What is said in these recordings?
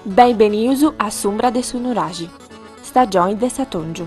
Benvenius a s'umbra de su nuraxi, stagioni de s'atòngiu.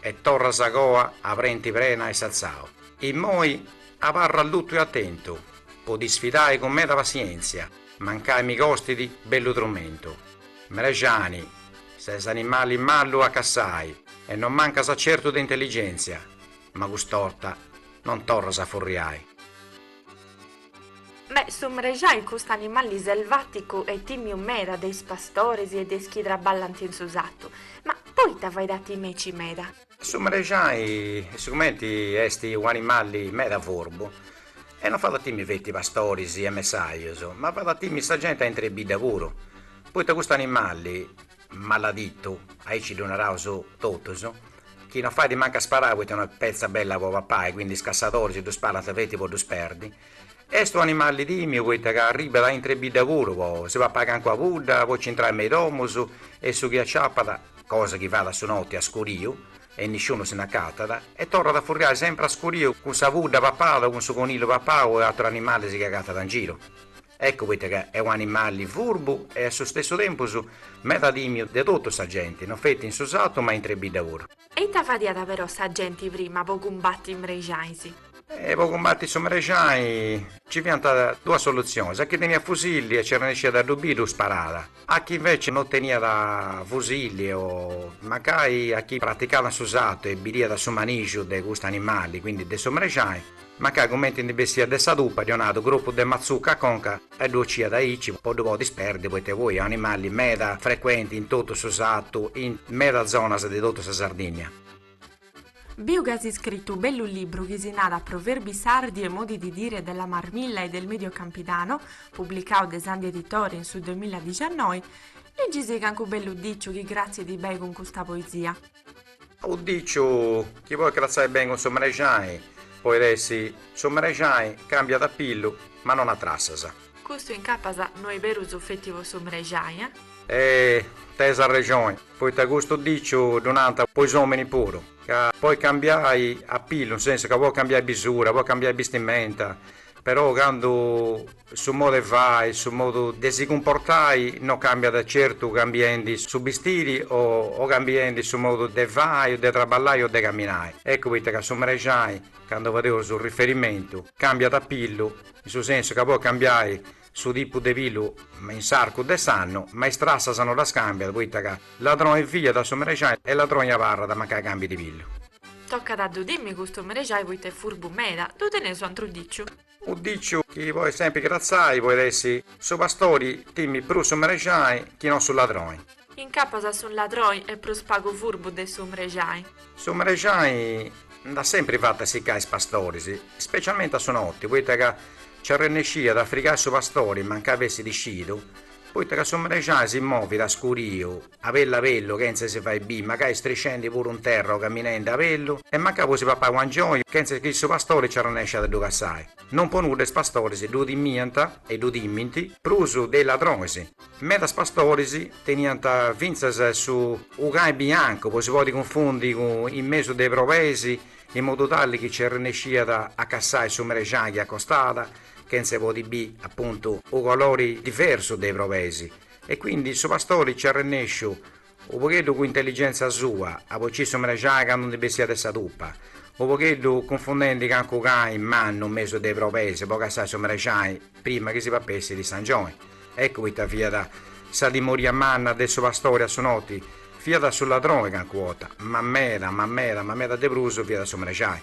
E torras a coa a brenti prena e satzau. Immoi abarru allutu e atentu, po t'isfidai cun meda passienzia, mancai mi costidi bellu trumentu. Merexani, ses animali malu a cassai e non mancas certu de intelligenzia, ma cust'orta non torras a furriai. Be', su mrexai, custu animali selvaticu est timiu meda de is pastoris e de is chi trabballant in su satu, ma poita fait a timi aici meda? Su mrexai sigumenti est un'animali meda furbu e non fait a timi feti pastoris e messajus, ma fait a timi sa genti aintru 'e bidda puru, poita custu animali Maladitu, aici ddu naraus totus, chi non fait mancu sparau poita una petza bella po papai, quindi is cassadoris ddu sparant feti po ddu sperdi, est u' animali timiu poita ca arribbiat aintr'e bidda puru po si papai cancua pudda, po ci intrai me is domus e su chi aciapat, cosa chi fait a su noti a scuriu e nisciunu si nd'acatat, e torrat a furriai sempri a scuriu cun sa pudda papada o cun su conillu papau e atrus animalis chi agatat in giru. Eccu poita ca est un'animali furbu e a su stessu tempus meda timiu de totu sa genti, no feti in su satu ma intr'e bidda puru. E ita fadiat però sa genti prima po cumbati is mrexanis? E po cumbati su mrexani nci fiant duas soluzionis, a chi teniat fusilli e nci arrennesciat a ddu bi, ddu sparada. a chi invece no teniat fusili o mancai a chi praticàt in su satu e bidiat su manixu de custu animali, quindi de su mrexai, mancai cumenti ndi bessiat de sa tupa ddi 'onàt u' croppu de matzuca a conca e ddu 'occiat aici po ddu podi sperdi poita poi est un'animali meda frecuenti in totu su satu in meda zonas de totu sa Sardigna. Biu ca as iscritu u bellu libru chi si narat Proverbi sardi e modi di dire della Marmilla e del Medio Campidano, publicau de Sandhi Editore in su duemiladiciannoi, liggisi cancu bellu diciu chi cratzit beni cun custa poesia. U diciu chi poit cratzai beni cun su mrexai, poit essi, Su mrexai cambiat a pillu, ma non a trassas. Custu incapas no est berus feti po su mrexai? E teis arrexoni, poita custu diciu ddu nant po is omini puru, ca poit cambiai a pillu, in sensu ca poit cambiai bisura, poit cambiai bistimenta, perou candu su modu 'e fai, su modu de si cumportai no cambiat certu cambiendi su bistiri o o cambiendi su modu de fai o de traballai o de caminai. Eccu poita ca su mrexai, candu fadeus su riferimentu, cambiat a pillu in su sensu ca podit cambiai su tipu de pilu in s'arcu de s'annu, ma is trassas no ddas càmbiat poita ca ladroni fiat su merexai e ladroni abarrat mancai càmbit de pilu. Tocat a ddu timmi custu merexai poita est furbu meda, ddu teneus u' atru diciu. U diciu chi podit sempri cratzai, podit essi su pastori, timmit prus su merexai chi no su ladroni. Incapas su ladroi est prus pagu furbu de su mrexai. Su mrexai nd'at sempri fatu assicai is pastoris, specialmenti a su noti, poita ca nci arrennesciat a frigai su pastori mancai fessit iscidu, poita ca su mrexai si movit a scuriu, a bellu a bellu, chentza de si fai biri, mancai striscendi puru in terra o caminendi a bellu, e mancai po si papai u angioi, chentza chi su pastori nci arrennesciat a ddu cassai. Non po nudda is pastoris ddu timiant e ddu timint prus de is ladrois. Medas pastoris teniant fintzas su u cai biancu po si podi cunfundi cun in mesu de is brebeis in modu tali chi nci arrennesciat a cassai su merexai chi acostat chentze podi bi apuntu u colori diversu de is brebeis e quindi su pastori nci arrennesciu Unu pogheddu cun intelligenza sua, a bocì su merexai candu ndi bessiat de sa tupa, unu pogheddu cunfundendi cancu cai mannu in mesu de is brebeis po cassai su merexai prima chi si papessit s'angioni. Eccu poita fiat sa timoria manna de su pastori a su noti, fiat su ladroni cancu 'orta, ma meda, ma meda, ma meda de prus fiat su merexai.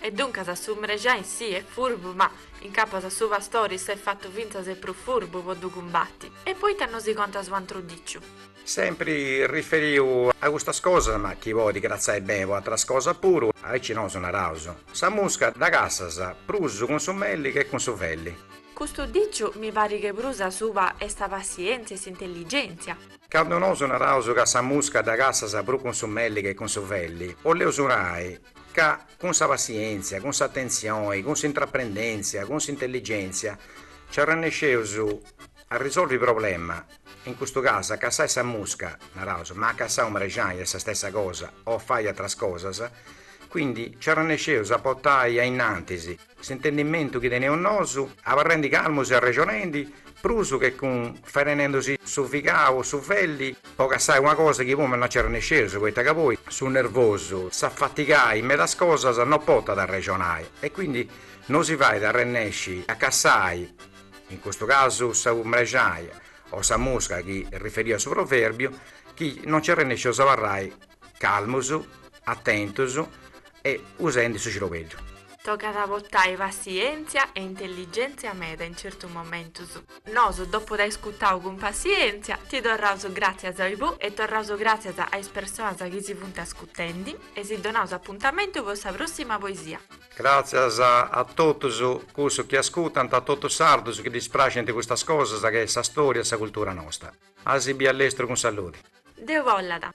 E duncas su merexai sì, est furbu, ma incapas su pastori s'est fatu fintzas prus furbu po ddu cumbati. E poita no si contas u' antru diciu? Sempri riferiu a custas cosas ma chi podi cratzai beni po atras cosas puru, aici nosu naraus, sa musca dda cassas prus cun su melli che cun su felli. Custu diciu mi parit che prus asuba est sa passientzia e s'intelligèntzia. Candu nosu naraus ca sa musca dda cassas prus cun su melli che cun su felli, 'oleus nai, ca cun sa passièntzia, cun s'atentzioni, cun s'intraprendèntzia, cun s'intelligèntzia, nci arrennesceus a risolvi problema, in custu casu a cassai sa musca, naraus, ma a cassai u marexai est sa stessa cosa, o a fai atras cosas, quindi nci arrennesceus a potai ainnantis, S'intendimentu chi teneus nosu, abarrendi calmus e arrexonendi, prus che cun ferenendusi su figau o su felli, po cassai una cosa chi poi no nci arrennesceus, poita ca poi su nervosu, s'afatigai in medas cosas, no potat a arrexonai e quindi no si fait arrennesci a cassai, in custu casu su mrexai o sa musca chi riferia a su proverbiu, chi no nci arrennesceus abarrai Calmus, atentus e usendi su cirobeddu. Tocat a portai passièntzia e intelligèntzia meda in certus momentus. Nosu, dopu de t'ai ascurtau cun passièntzia, ti torraus gràtzias a ibu e torraus gràtzias a is personas chi si funt ascutendi e si donaus apuntamentu po sa pròssima poesia. Gràtzias a totus cussus chi ascutant, a totus is sardus chi ddis praxint custas cosas, chi est sa stòria e sa cultura nosta. A si bi a lestru cun saludi. Deus bollat.